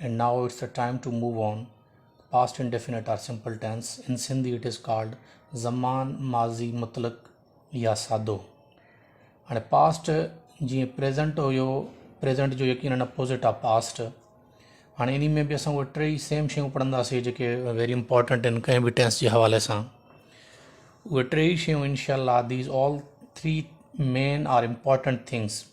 and now it's the time to move on past indefinite or simple tense in sindhi it is called زمان ماضي مطلق يا سادو هاڻي پاسٽ جيئن پريزنٽ هيو پريزنٽ جو يقينن اپوزٽ آف پاسٽ هاڻي ان ۾ به اسان اهي ٽي ئي سيم شيون پڙهنداسين جيڪي ويري امپورٽنٽ آهن ڪنهن به ٽينس جي حوالي سان اهي ٽي ئي شيون انشاء الله these all three main are important things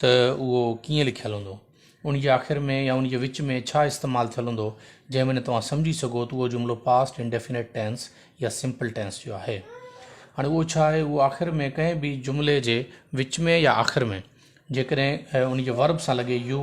ته اهو ڪيئن لکيل هوندو، ان جي آخر ۾ يا ان جي وچ ۾ ڇا استعمال ٿيل هوندو، جنهن ۾ نه توهان سمجهي سگهو ته اهو جملو پاسٽ انڊيفنيٽ ٽينس يا سمپل ٽينس جو آهي. هاڻي اهو ڇا آهي، اهو آخر ۾ ڪنهن به جملي جي وچ ۾ يا آخر ۾ جيڪڏهن ان جي ورب سان لڳي يو،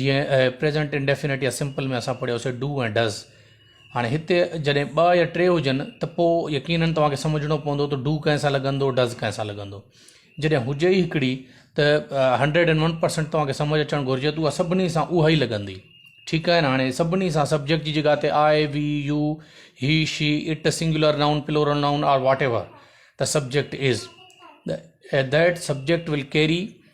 جيئن پريزنٽ انڊيفينٽ يا سمپل ۾ اسان پڙهيو سي ڊو ۽ ڊز هاڻي هتي جڏهن ٻه يا ٽي هجن ته پوء يقيناً تواکي سمجهڻو پوندو ته ڊو ڪنهن سان لڳندو ڊز ڪنهن سان لڳندو جڏهن هجي ئي هڪڙي ته هنڊريڊ اينڊ ون پرسنٽ تواکي سمجهه اچڻ گهرجي ته اها سڀني سان اها ئي لڳندي ٺيڪ آهي هاڻي سڀني سان سبجيڪٽ جي جڳهه تي I we you he she it singular noun plural noun are whatever ته سبجيڪٽ از ته ديٹ سبجيڪٽ ول ڪيري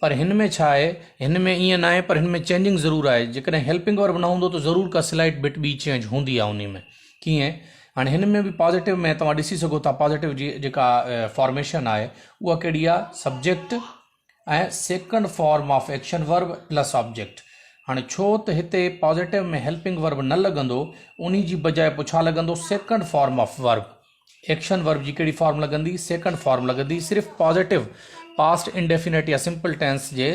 پر هن ۾ ڇا آهي هن ۾ ايئن ناهي پر هن ۾ چينجنگ ضرور آهي جيڪڏهن هيلپنگ ورب نه هوندو ته ضرور ڪا سلائيٽ بٽ ٻي چينج هوندي آهي انهي ۾ ڪيئن هاڻي هن ۾ به پازيٽو ۾ توهان ڏسي سگهو ٿا پازيٽو جي جيڪا فارميشن آهي اها ڪهڙي آهي subject ۽ second form of action verb plus object هاڻي ڇو ته هتي پازيٽو ۾ هيلپنگ ورب نه لڳندو انهي جي بجاء پڇا لڳندو second form of verb action verb جي ڪهڙي فارم لڳندي؟ سيڪنڊ فارم لڳندي. صرف پازيٽو پاسٽ انڊيفينٽ يا سمپل ٽينس جي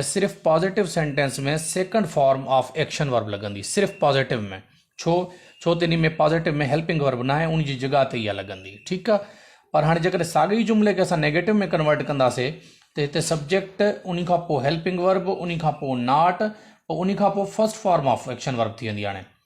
صرف positive sentence ۾ second form of action verb لڳندي. صرف پازيٽو ۾. ڇو؟ ڇو ته انهي ۾ پازيٽو ۾ هيلپنگ ورب ناهي ان جي جڳهه تي اها لڳندي. ٺيڪ آ. پر هاڻي جيڪڏهن ساڳئي جملي کي اسان نيگيٽو ۾ ڪنورٽ ڪنداسي ته هتي سبجيڪٽ انهي کان پوء هيلپنگ ورب انهي کان پوء ناٽ پوء انهي کان پوء first form of action verb ٿي ويندي هاڻي.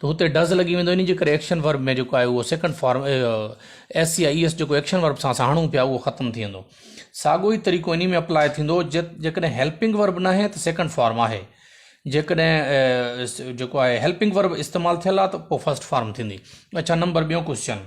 ته هتي does لڳي ويندو انهي جي ڪري ايڪشن ورب ۾ جيڪو آهي اهو سيڪنڊ فارم ايس يا اي ايس جيڪو ايڪشن ورب سان اسان هڻون پيا اهو ختم ٿي ويندو ساڳو ئي طريقو انهي ۾ اپلاء ٿيندو جيڪڏهن هيلپنگ ورب ناهي ته سيڪنڊ فارم آهي جيڪڏهن جيڪو آهي هيلپنگ ورب استعمال ٿيل آهي ته پوء فرسٽ فارم ٿيندي اڇا نمبر ٻيو ڪوشچن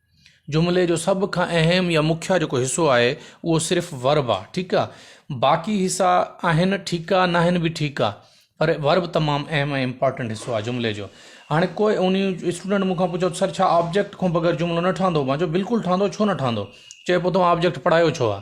جملي جو سڀ کان اهم يا مکيه جيڪو حصو آهي اهو صرف ورب آهي ٺيڪ آهي باقي حصا آهن ٺيڪ آهي ناهن به ٺيڪ آهي پر ورب تمام اهم ۽ امپورٽنٽ حصو آهي جملي جو هاڻي ڪو ان اسٽوڊنٽ مون کان پڇو سر ڇا آبجيڪٽ کان بغير جملو نه ٺهندو مانجو بلڪل ٺهندو ڇو نه ٺهندو چئبو تمام آبجيڪٽ پڙهايو ڇو آهي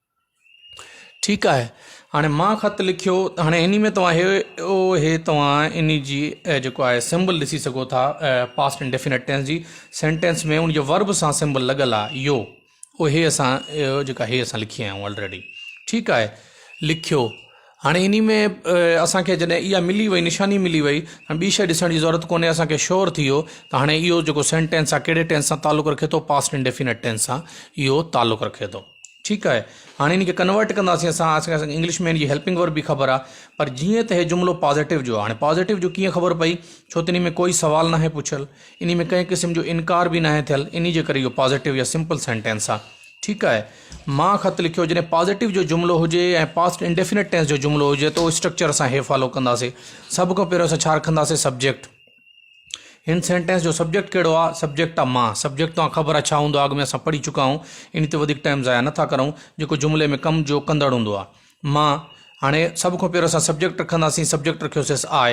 ٺيڪ آهي هاڻي مان خط لکيو هاڻي اني ۾ توهان هي او هي توهان اني جي جيڪو آهي سمبل ڏسي سگهو ٿا پاسٽ ان ڊيفينيٽ ٽينس جي سينٽينس ۾ ان جي ورب سان سمبل لڳل آهي يو او هي اسان جيڪا هي اسان لکي آيا آلريڊي ٺيڪ آهي لکيو هاڻي اني ۾ اسانکي جڏهن اها ملي وئي نشاني ملي وئي هاڻي ٻي شيء ڏسڻ جي ضرورت ڪونهي اسانکي شور ٿي ويو ته هاڻي اهو جيڪو سينٽينس آهي ڪهڙي ٽينس سان تعلق رکي ٿو پاسٽ ان ڊيفينيٽ ٽينس سان اهو تعلق رکي ٿو ٺيڪ آهي هاڻي ان کي ڪنورٽ ڪنداسين اسان اسان کي انگلش ۾ ان جي هيلپنگ ورب به خبر آهي پر جيئن ته هي جملو پازيٽو جو هاڻي پازيٽو جو ڪيئن خبر پئي ڇو ته ان ۾ ڪوئي سوال ناهي پڇيل ان ۾ ڪنهن قسم جو انڪار به ناهي ٿيل ان جي ڪري اهو پازيٽو يا سمپل سينٽينس آهي ٺيڪ آهي مان خط لکيو جڏهن پازيٽو جو جملو هجي ۽ پاسٽ انڊيفينٽ ٽينس جو جملو هجي ته اسٽرڪچر اسان هي فالو ڪنداسي سڀ کان پهريون اسان ڇا رکنداسي سبجيڪٽ هن سينٽينس جو سبجيڪٽ ڪهڙو آ؟ سبجيڪٽ آ مان. سبجيڪٽ توهان کي خبر آ ڇا هوندو آ؟ اڳ ۾ اسان پڙهي چڪا آهيون. انهي تي وڌيڪ ٽائيم ضايع نٿا ڪرون. جيڪو جملي ۾ ڪم جو ڪندڙ هوندو آ. مان. هاڻي سڀ کان پهريون اسان سبجيڪٽ رکنداسين. سبجيڪٽ رکيوسيس آء.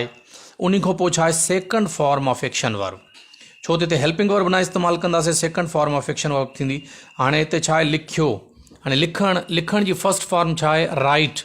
انهي کان پوء ڇا آهي second form of action verb. ڇو ته هتي هيلپنگ ورب نه استعمال ڪنداسين second form of action verb ٿيندي. هاڻي هتي ڇا آهي لکيو. هاڻي لکڻ لکڻ جي فرسٽ فارم ڇا آهي رائيٽ.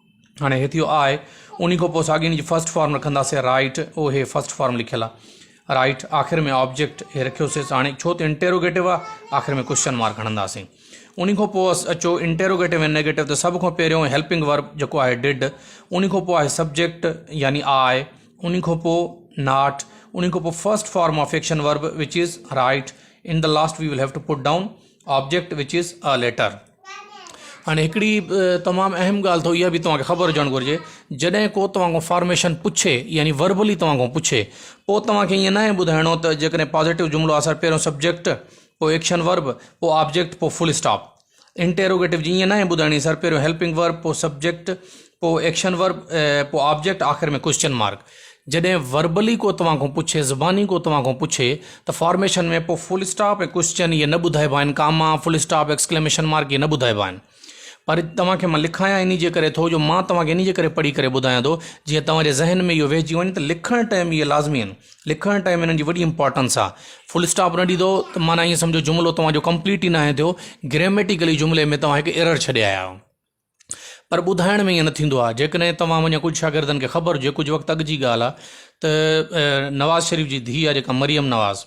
هاڻي هي ٿيو آء انهي کان پوء ساڳين جي فرسٽ فارم رکنداسي رائٽ او هي فرسٽ فارم لکيل آ رائٽ آخر ۾ آبجيڪٽ هي رکيوسي هاڻي ڇو ته انٽيروگيٽو آ آخر ۾ ڪوشچن مارڪ هڻنداسي انهي کان پوء اچو انٽيروگيٽو ۽ نيگيٽو ته سڀ کان پهريون هيلپنگ ورب جيڪو آهي ڊڊ انهي کان پوء آهي سبجيڪٽ يعني آء انهي کان پوء ناٽ انهي کان پوء first form of fiction verb which is right in the last we will have to put down object which is a later هاڻي هڪڙي تمام اهم ڳالهه اٿو اها به توهان کي خبر هجڻ گهرجي جڏهن ڪو توهان کان فارميشن پڇي يعني وربلي توهان کان پڇي پوء توهان کي ائين ناهي ٻڌائڻو ته جيڪڏهن پازيٽو جملو آهي سر پهريون سبجيڪٽ پوء ايڪشن ورب پوء آبجيڪٽ پوء فل اسٽاپ انٽيروگيٽو جي ائين ناهي ٻڌائڻي سر پهريون هيلپنگ ورب پوء سبجيڪٽ پوء ايڪشن ورب پوء آبجيڪٽ آخر ۾ ڪوشچن مارڪ جڏهن وربلي ڪو توهان کان پڇي زباني ڪو توهان کان پڇي ته فارميشن ۾ پوء فل اسٽاپ ۽ ڪوشچن اهي نه ٻڌائبا آهن comma full stop exclamation mark اهي نه ٻڌائبا آهن پر توهان کي مان لکايان انهي جي ڪري ٿو جو مان توهان کي انهي جي ڪري پڙهي ڪري ٻڌايان ٿو جيئن توهان جي ذهن ۾ اهو ويهجي وڃي ته لکڻ ٽائيم اهي لازمي آهن لکڻ ٽائيم انهن جي وڏي امپارٽنس آهي فل اسٽاپ نه ڏيندو ته معنيٰ ائين سمجهو جملو توهان جو ڪمپليٽ ئي ناهي ٿيو گريميٽيڪلي جملي ۾ توهان هڪ ايرر ڇڏي آيا آهيو پر ٻڌائڻ ۾ ائين نه ٿيندو آهي. جيڪڏهن توهان وڃان ڪجهه شاگردن کي خبر هجي، ڪجهه وقت اڳ جي ڳالهه آهي ته نواز شريف جي ڌيء آهي جيڪا مريم نواز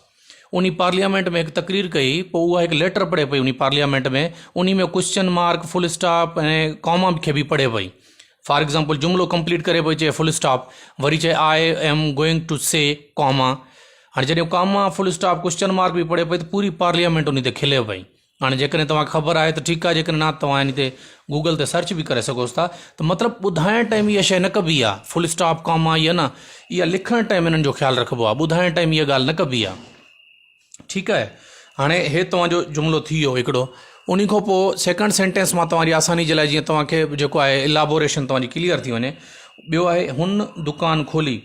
انهي پارليامينٽ ۾ هڪ تقرير ڪئي پوء اها هڪ ليٽر پڙهي پئي انهي پارليامينٽ ۾ انهي ۾ question mark full stop ۽ comma کي به پڙهي پئي فار ايگزامپل جملو ڪمپليٽ ڪري پئي چئي فل اسٽاپ وري چئي I am going to see comma هاڻي جڏهن comma full stop question mark به پڙهي پئي ته پوري پارليامينٽ انهي تي کلي پئي هاڻي جيڪڏهن توهان کي خبر آهي ته ٺيڪ آهي جيڪڏهن نه توهان هن تي گوگل تي سرچ به ڪري سگهوس ٿا ته مطلب ٻڌائڻ ٽائيم اها شيء نه ڪبي آهي فل اسٽاپ ڪاما اها نه اها لکڻ ٽائيم هنن جو خيال رکبو آهي ٻڌائڻ ٽائيم اها ڳالهه نه ڪبي آهي ٺيڪ آهي هاڻي هي توهان جو جملو ٿي ويو هڪڙو ان کان پوء سيڪنڊ سينٽينس مان توهان جي آساني جي لاء جيئن توهان کي جيڪو آهي الابوريشن توهان جي ڪليئر ٿي وڃي ٻيو آهي هن دڪان کولي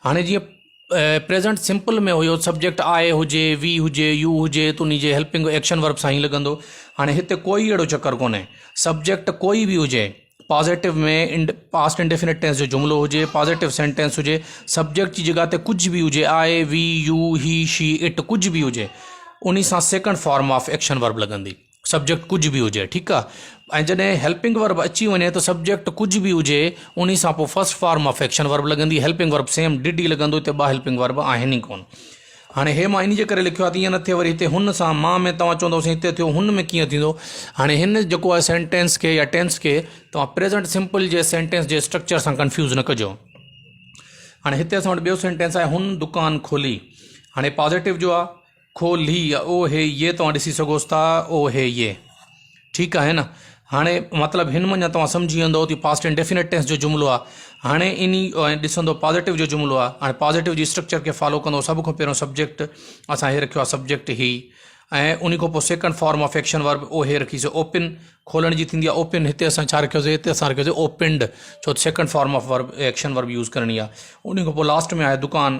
هاڻي جيئن present simple ۾ have subject I هجي وي هجي يو هجي ته انهي جي هيلپنگ ايڪشن ورب سان ئي لڳندو هاڻي هتي ڪوئي اهڙو چڪر ڪونهي سبجيڪٽ ڪوئي به هجي positive ۾ and past indefinite tense جو جملو هجي پازيٽو سينٽينس هجي سبجيڪٽ جي جڳهه تي ڪجهه به هجي I we you he she it ڪجهه به هجي انهي سان second form of action verb لڳندي سبجيڪٽ ڪجهه به هجي ٺيڪ آ ۽ جڏهن هيلپنگ ورب اچي وڃي ته سبجيڪٽ ڪجهه به هجي انهي سان پوء first form of action verb لڳندي هيلپنگ ورب سيم ڊڊ ئي لڳندو هتي ٻه هيلپنگ ورب آهن ئي ڪون هاڻي هي مان انهي جي ڪري لکيو آ ته ائين نه ٿئي وري هتي هن سان مان ۾ توهان چوندو سائين هتي ٿيو هن ۾ ڪيئن ٿيندو هاڻي هن جيڪو آهي سينٽينس کي يا ٽينس کي توهان پريزنٽ سمپل جي سينٽينس جي اسٽرڪچر سان ڪنفيوز نه ڪجو هاڻي هتي اسان وٽ ٻيو سينٽينس آهي هن دڪان کولي هاڻي پازيٽو جو آ کو لھي يا او ھي يي توھان ڏسي سگھوس ٿا او ھي يي ٺيڪ آھي نه ھاڻي مطلب ھن مڃان توھان سمجھي ويندؤ تي پاسٽ انڊيفينٽ ٽينس جو جملو آ ھاڻي انھي ڏسندؤ پازيٽو جو جملو آ ھاڻي پازيٽو جي اسٽرڪچر کي فالو ڪندؤ سڀ کان پھريون سبجيڪٽ اسان ھي رکيو آ سبجيڪٽ ھي ۽ انھي کان پوء second form of action verb او ھي رکي سي اوپن کولڻ جي ٿيندي آ اوپن ھتي اسان ڇا رکيو سي ھتي اسان رکيو سي اوپنڊ ڇو second form of verb action verb use ڪرڻي آ انھي کان پوء لاسٽ ۾ آھي دڪان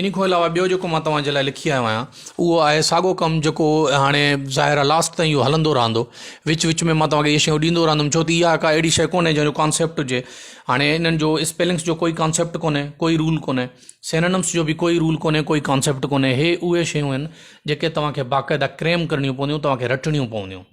انهي کان علاوه ٻيو جيڪو مان توهان جي لاء لکي آيو آهيان اهو آهي ساڳو ڪم جيڪو هاڻي ظاهر آهي لاسٽ تائين اهو هلندو رهندو وچ وچ ۾ مان توهان کي اهي شيون ڏيندو رهندم ڇو ته اها ڪا اهڙي شيء ڪونهي جنهن جو ڪانسيپٽ هجي هاڻي انهن جو اسپيلنگس جو ڪوئي ڪانسيپٽ ڪونهي ڪوئي رول ڪونهي سينونمس جو به ڪوئي رول ڪونهي ڪوئي ڪانسيپٽ ڪونهي هي اهي شيون آهن جيڪي توهان کي باقاعده ڪريم ڪرڻيون پونديون توهان کي رٽڻيون پونديون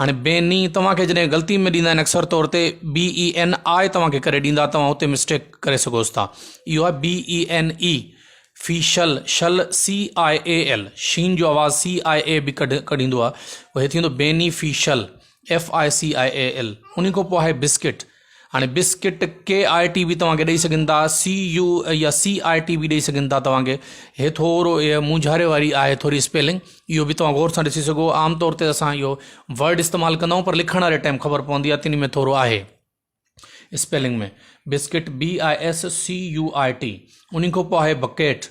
هاڻي بي ني توهان کي جڏهن غلطي ۾ ڏيندا آهن اڪثر طور تي بي اي اين آء توهان کي ڪري ڏيندا توهان اتي مسٽيڪ ڪري سگهوس ٿا اهو آهي بي اي اين اي في شل شل سي آء اي ايل شين جو آواز سي آء اي به ڪڍ ڪڍيندو آهي اهي ٿيندو beneficial F I C I A L ان کان پوء آهي بسڪٽ هاڻي بسڪٽ ڪي آء ٽي به توهان کي ڏئي سگهن ٿا سي يو يا سي آء ٽي به ڏئي سگهن ٿا توهان کي هي ٿورو هي مونجهاري واري آهي ٿوري اسپيلنگ اهو به توهان غور سان ڏسي سگهو عام طور تي اسان اهو ورڊ استعمال ڪندا آهيون پر لکڻ واري ٽائم خبر پوندي آهي تن ۾ ٿورو آهي spelling ۾ biscuit B I S C U I T ان کان پوء آهي بڪيٽ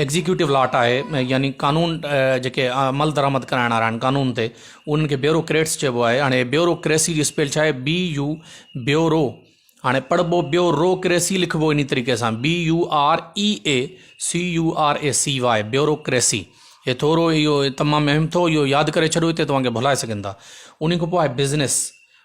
ايگزيڪيوٽو لاٽ آهي يعني قانون جيڪي عمل درآمد ڪرائڻ وارا آهن قانون تي انهن کي بيورو ڪريٽس چئبو آهي هاڻي بيورو ڪريسي جي اسپيل ڇا آهي بي يو بيورو هاڻي پڙهبو بيورو ڪريسي لکبو ان طريقي سان B U R E A C U R A C Y bureaucracy هي ٿورو اهو تمام اهم ٿو اهو ياد ڪري ڇڏو هتي توهان کي ڀلائي سگهن ٿا ان کان پوء آهي بزنس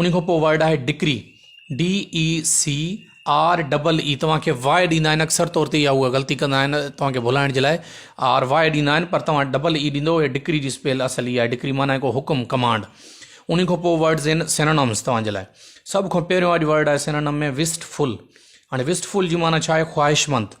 انهي کان پوء ورڊ آهي ڊڪري DECREE توهان کي واء ڏيندا آهن اڪثر طور تي يا هو غلطي ڪندا آهن توهان کي ڀلائڻ جي لاء آر واء ڏيندا آهن پر توهان ڊبل اي ڏيندو هي ڊڪري جي اسپيل اصل هي آهي ڊڪري معنی هڪ حڪم ڪمانڊ انهي کان پوء ورڊز آهن سينونمز توهان جي لاء سڀ کان پهريون اڄ ورڊ آهي سينونم ۾ وسٽ فل هاڻي وسٽ فل جي معنی ڇا آهي خواهشمند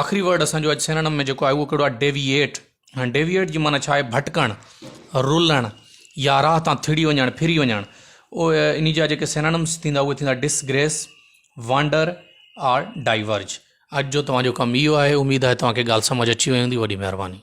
آخري ورڊ اسان جو اڄ سينڻم ۾ جيڪو آهي اهو ڪهڙو آهي ڊيويئيٽ هاڻي ڊيويئيٽ جي معنيٰ ڇا آهي ڀٽڪڻ رلڻ يا راهه تان ٿڙي وڃڻ ڦري وڃڻ او ان جا جيڪي سينڻمس ٿيندا اهي ٿيندا ڊسگريس وانڊر آر ڊائيورج اڄ جو توهان جو ڪم اهو آهي اميد آهي توهان کي ڳالهه سمجھ اچي وئي هوندي وڏي مهرباني